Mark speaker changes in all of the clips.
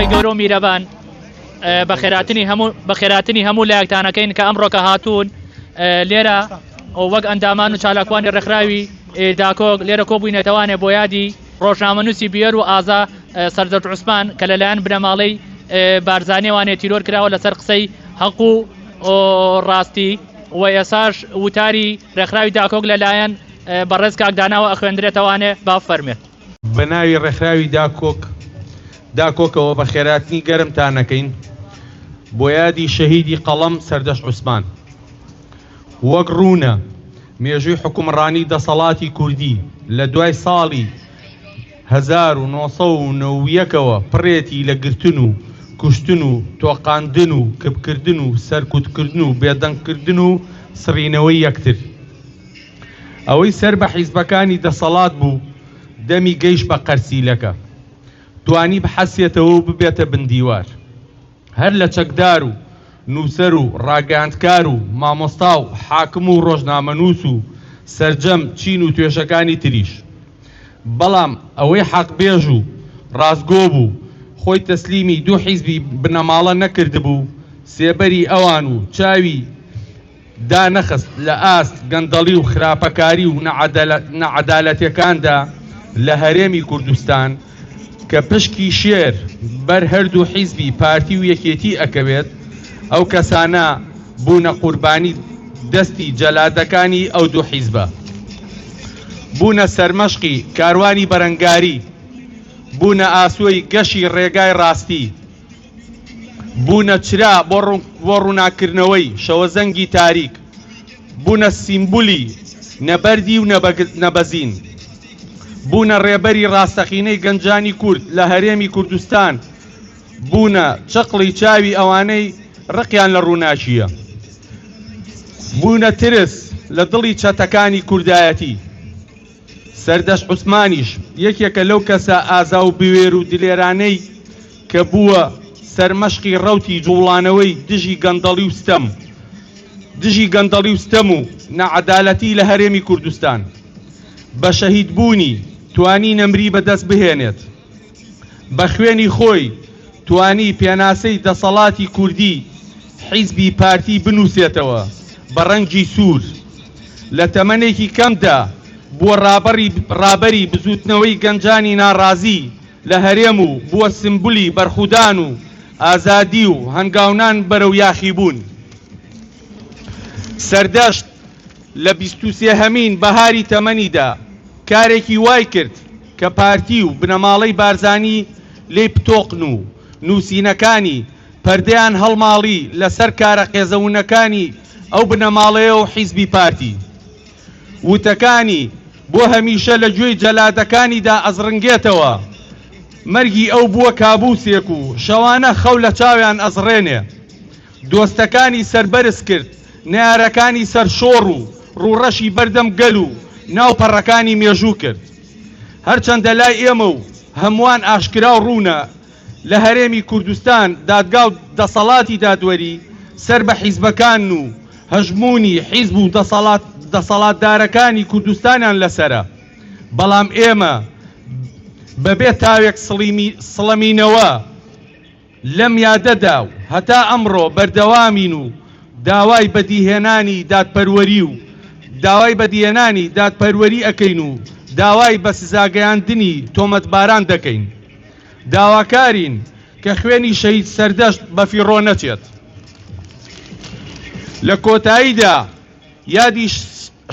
Speaker 1: خی گەورە و میرەبان بە خێراتنی هەموو بە خێراتنی هەموو لایەکتانەکەین کە ئەمڕۆکە هاتوون لێرە ئەو وەک ئەندامان و چالاکوانی ڕێکخراوی داکۆک لێرە کۆبووینەتەوانێ بۆ یادی ڕۆژنامەنووسی بوێر و ئازا سەردەشت عوسمان کە لەلایەن بنەماڵەی بارزانیوانێ تیرۆر کراوە لەسەر قسەی هەق و ڕاستی و ئێساش وتاری ڕێکخراوی داکۆک لەلایەن بەڕێز کاک داناوە ئەخوێندرێتەوانێ با فەرمێت. بە ناوی
Speaker 2: ڕێکخراوی داکۆک داکۆکەوە بە خێراتنی گەرمتان ئەکەین بۆ یادی شەهیدی قەڵەم سەردەشت عوسمان. وەک ڕوونە مێژووی حوکمڕانی دەسەڵاتی کوردی لە دوای ساڵی هەزار و نۆ سەد و نەوە و یەک ەوە پڕێتی لە گرتن و کوشتن و تۆقاندن و کپکردن و سەرکوتکردن و بێدەنگکردن و سڕینەوەی یەکتر. ئەوەی سەر بە حیزبەکانی دەسەڵات بوو دەمی گەیشت بە قەرسیلەکە توانی بحەسێتەوە و ببێتە بندیوار. هەر لە چەکدار و نووسەر و ڕاگەیاندکار و مامۆستا و حاکم و ڕۆژنامەنووس و سەرجەم چین و توێژەکانی تریش. بەڵام ئەوەی حەقبێژ و ڕاستگۆ بوو، خۆی تەسلیمی دوو حیزبی بنەماڵە نەکردبوو، سێبەری ئەوان و چاوی، دانەخست لە ئاست گەندەڵی و خراپەکاری و نەعەدالەتیەکاندا لە هەرێمی کوردستان کە پشکی شێر بەر هەردوو حیزبی پارتی و یەکێتی ئەکەوێت ئەو کەسانە بوونە قوربانی دەستی جەلادەکانی ئەو دوو حیزبە بوونە سەرمەشقی کاروانی بەرەنگاری بوونە ئاسۆی گەشی ڕێگای ڕاستی بوونە چرا بۆ ڕووناککردنەوەی شەوەزەنگی تاریک، بوونە سیمبولی نەبەردی و نەبەزین، بوونە ڕێبەری ڕاستەقینەی گەنجانی کورد لە هەرێمی کوردستان، بوونە چەقڵی چاوی ئەوانەی ڕقیان لە ڕووناکییە، بوونە ترس لە دڵی چەتەکانی کوردایەتی. سەردەشت عوسمانیش یەکێکە لەو کەسە ئازا و بوێر و دلێرانەی کە بووە سەرمەشقی ڕەوتی جووڵانەوەی دژی گەندەڵی و ستەم دژی گەندەڵی و ستەم و ناعەدالەتی لە هەرێمی کوردستان. بە شەهیدبوونی توانی نەمری بەدەست بهێنێت. بە خوێنی خۆی توانی پێناسەی دەسەڵاتی کوردی حیزبی پارتی بنووسێتەوە بە ڕەنگی سوور. لە تەمەنێکی کەمدا بووە ڕابەڕی ڕابەری بزووتنەوەی گەنجانی ناڕازی لە هەرێم و بووە سمبولی بەرخودان و ئازادی و هەنگاونان بەرەو یاخیبوون. سەردەشت لە بیست و سێ هەمین بەهاری تەمەنیدا کارێکی وای کرد کە پارتی و بنەماڵەی بارزانی لێی پتۆقن و نووسینەکانی پەردەیان هەڵماڵی لەسەر کارە قێزەونەکانی ئەو بنەماڵەیە و حیزبی پارتی. وتەکانی بۆ هەمیشە لە گوێی جەلادەکانیدا ئەزڕنگێتەوە. مەرگی ئەو بووە کابووسێک و شەوانە خەو لە چاویان ئەزڕێنێ. دۆستەکانی سەربەرز کرد. نەیارەکانی سەرشۆڕ و ڕووڕەشی بەردەم گەل و ناو پەڕەکانی مێژوو کرد. هەرچەندە لای ئێمە و هەمووان ئاشکرا و ڕوونە، لە هەرێمی کوردستان دادگا و دەسەڵاتی دادوەری سەر بە حیزبەکان و هەژموونی حیزب و دەسەڵاتدارەکانی کوردستانیان لەسەرە، بەڵام ئێمە بەبێ تاوێک سڵەمینەوە، لەم یادەدا و هەتا ئەمڕۆ بەردەوامین و داوای بەدیهێنانی دادپەروەری و داوای بەدیهێنانی دادپەروەری ئەکەین و داوای بە سزاگەیاندنی تۆمەتباران دەکەین. داواکارین کە خوێنی شەهید سەردەشت بەفیڕۆ نەچێت. لە کۆتاییدا یادی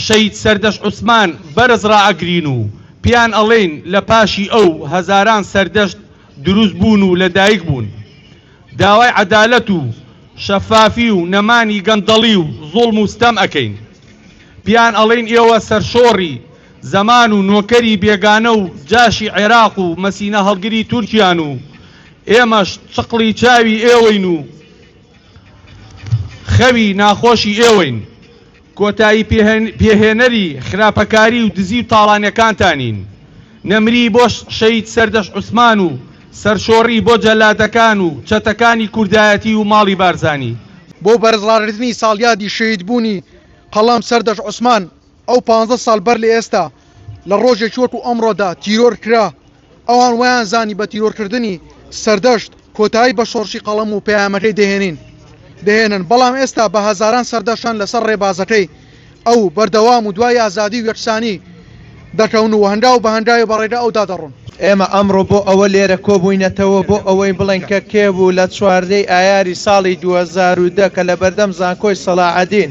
Speaker 2: شەهید سەردەشت عوسمان بەرز ڕائەگرین و پێیان ئەڵێین لە پاشی ئەو هەزاران سەردەشت دروست بوون و لە دایک بوون. داوای عەدالەت و شەفافی و نەمانی گەندەڵی و زوڵم و ستەم ئەکەین. پێیان ئەڵێین ئێوە سەرشۆڕی زەمان و نۆکەری بێگانە و جاشی عێراق و مەسینە هەڵگری تورکیان و ئێمەش چقڵی چاوی ئێوەین و خەوی ناخۆشی ئێوەین. کۆتایی پێهێنەری خراپەکاری و دزی و تاڵانیەکانتانین، نەمری بۆ شەهید سەردەشت عوسمان و سەرشۆڕی بۆ جەلادەکان و چەتەکانی کوردایەتی و ماڵی بارزانی. بۆ بەرزڕاگرتنی
Speaker 3: ساڵیادی شەهیدبوونی قەڵام سەردەشت عوسمان ئەو پانزە ساڵ بەر لە ئێستا لە ڕۆژێکی وەکو ئەمڕۆدا تیرۆر کرا، ئەوان وایان زانی بە تیرۆرکردنی سەردەشت کۆتایی بە شۆڕشی قەڵەم و پەیامەکەی دەهێنین دەهێنن، بەڵام ئێستا بە هەزاران سەردەشتن لەسەر ڕێبازەکەی ئەو بەردەوام و دوای ئازادی و یەکسانی دەکەون و هەنگاو بە هەنگاوی بە ڕێگا ئەودا دەڕۆن. ئێمە ئەمڕۆ بۆ
Speaker 4: ئەوە لێرە کۆبووینەتەوە بۆ ئەوەی بڵێین کە کێ بوو لە چواردە ی ئایاری ساڵی دوو هەزار و دە کە لە بەردەم زانکۆی سەڵاحەدین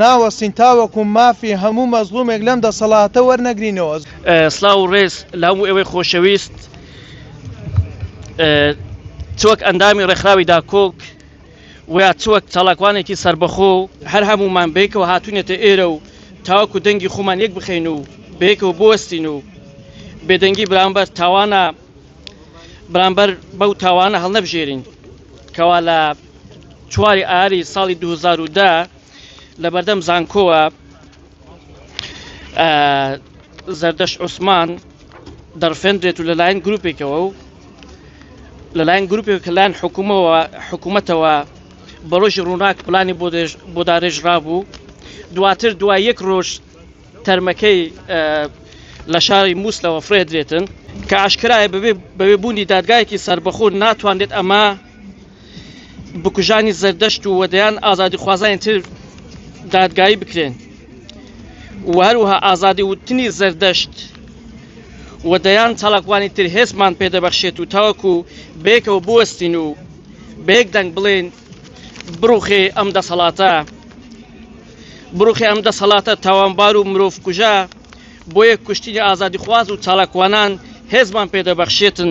Speaker 4: ناوەستین تاوەکو مافی هەموو مەزڵومێک لەم دەسەڵاتە وەرنەگرینەوە. سڵاو و
Speaker 5: ڕێز لە هەموو ئێوەی خۆشەویست چ وەک ئەندامی ڕێکخراوی داکۆک و یا چ وەک چالاکوانێکی سەربەخۆ و هەر هەموومان بەیەکەوە هاتوونەتە ئێرە و تاوەکو دەنگی خۆمان یەک بخەین و بەیەکەوە بوەستین و بێدەنگی بەرامبەر تاوانە بەرامبەر بەو تاوانە هەڵنەبژێرین کەوا لە چواری ئاری ساڵی 2010 لە بەردەم زانکۆوە زەردەش عوسمان دەرفێنرێت و لەلایەن گروپێکەوە و لەلایەن گروپێک کە لایەن حکوومەوە حکوومەتەوە بە ڕۆژی ڕووناک پلانی بۆ دارێژ رابوو دواتر دوای یەک ڕۆژ تەرمەکەی لە شاری مووسلەوە فرێدرێتن کە ئاشکرایە بەبێ بوونی دادگایەکی سربەخۆ ناتوانێت ئەمە بکوژانی زەردەشت و وەدەیان ئازادیخوازانی تر دادگایی بکرێن و هەروها ئازادی وتنی زەردەشت و دەیان چاڵکوانی تر هێزمان پێدەبەخشێت و تاوەکو بێکەوە بوەستین و بێک دەنگ بڵێن بڕوخێ ئەم دەسەڵاتە بڕوخێ ئەم دەسەڵاتە تاوانبار و مرۆڤ کوژە بۆیە کوشتنی ئازادی خواز و چاڵکوانان هێزمان پێدەبەخشێتن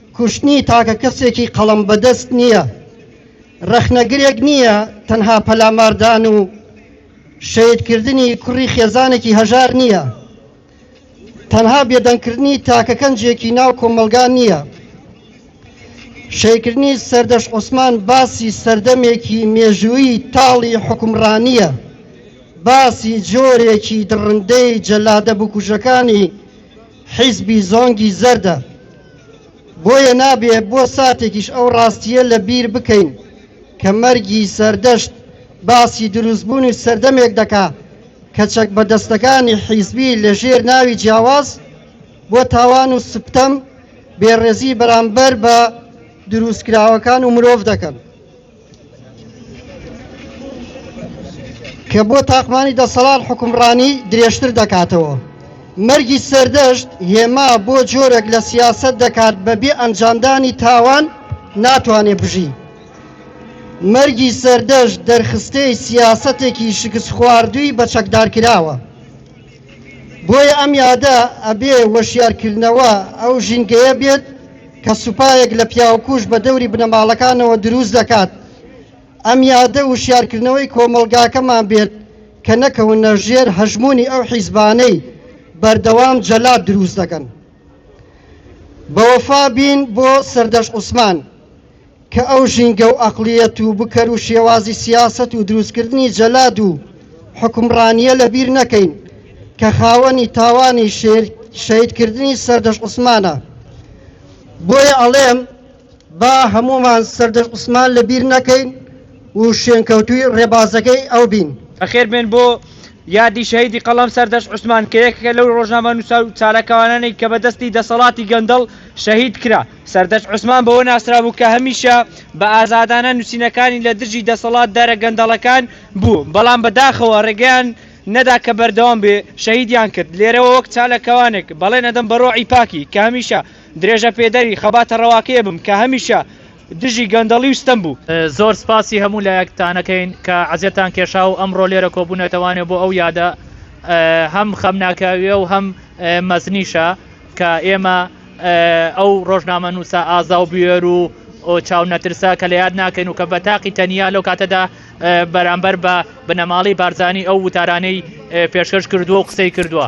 Speaker 6: کوشتنی تاکە کەسێکی قەڵەم بەدەست نییە، ڕەخنەگرێک نییە، تەنها پەلاماردان و شەهیدکردنی کوڕی خێزانێکی هەژار نییە، تەنها بێدەنگکردنی تاکە کەنجێکی ناو کۆمەڵگا نییە. شەیکردنی سەردەش عوسمان باسی سەردەمێکی مێژووی تاڵی حکومڕانیە، باسی جۆرێکی دڕندەی جەلادە بکوژەکانی حیزبی زۆنگی زەردە. بۆیە نابێ بۆ ساتێکیش ئەو ڕاستییە لە بیر بکەین کە مەرگی سەردەشت باسی دروستبوونی سەردەمێک دەکا کە چەکبەدەستەکانی حیزبی لە ژێر ناوی جیاواز بۆ تاوان و سپتەم بێڕێزی بەرامبەر بە دروستکراوەکان و مرۆڤ دەکەن. کە بۆ تاقمانی دەسەڵات حکومڕانی درێژتر دەکاتەوە. مەرگی سەردەشت هێما بۆ جۆرێک لە سیاسەت دەکات بە بێ ئەنجامدانی تاوان ناتوانێت بژی. مەرگی سەردەشت دەرخستەی سیاسەتێکی شکست خواردووی بە چەکدارکراوە. بۆیە ئەم یادە ئەبێ وەشیارکردنەوە ئەو ژینگەیە بێت کە سوپایەک لە پیاوکوژ بە دەوری بنەماڵەکانەوە دروست دەکات. ئەم یادە وشیارکردنەوەی کۆمەڵگاکەمان بێت کە نەکەونە ژێر هەژموونی ئەو حیزبانەی بەردەوام جەلاد دروست دەکەن. بەوەفا بین بۆ سەردەشت عوسمان. کە ئەو ژینگە و ئەقڵیەت و بکەر و شێوازی سیاسەت و دروستکردنی جەلاد و حکومڕانییە لەبیر نەکەین کە خاوەنی تاوانی شەهیدکردنی سەردەشت عوسمانە. بۆیە ئەڵێم با هەموومان سەردەشت عوسمان لەبیر نەکەین و شوێنکەوتووی ڕێبازەکەی ئەو بین. بەخێربێن بۆ
Speaker 7: یادی شەهیدی قەڵەم سەردەشت عوسمان کە یەکێکە لەو ڕۆژنامەنووسە و چالاکوانانەی کە بە دەستی دەسەڵاتی گەندەڵ شەهیدکرا. سەردەشت عوسمان بەوە ناسرابوو کە هەمیشە بە ئازادانە نووسینەکانی لە دژی دەسەڵات دارە گەندەڵەکان بوو بەڵام بەداخەوە ڕێگەیان نەدا کە بەردەوام بێ شەهیدیان کرد لێرەوە وەک چالەکەوانێک بەڵێن ئەدەم بەڕۆعی پاکی کە هەمیشە درێژە پێدەری خەباتە ڕەواکەیە بم کە هەمیشە دژی گەندەڵی وستەم بوو زۆر سپاسی هەموو
Speaker 1: لایەکتانەکەین کە عزیێتان کێشا و ئەمڕۆ لێرە کۆبوونەتەوانێ بۆ ئەو یادە هەم خەمناکاویە و هەم مەزنیشە کە ئێمە ئەو ڕۆژنامە نووسە ئازا و بوێر و چاو نەترسە کە لە یاد ناکەین و کە بە تاقی تەنیا لەو کاتەدا بەرامبەر بە بنەماڵی بارزانانی ئەو وتارانەی پێشکەش کردووە و قسەی کردووە.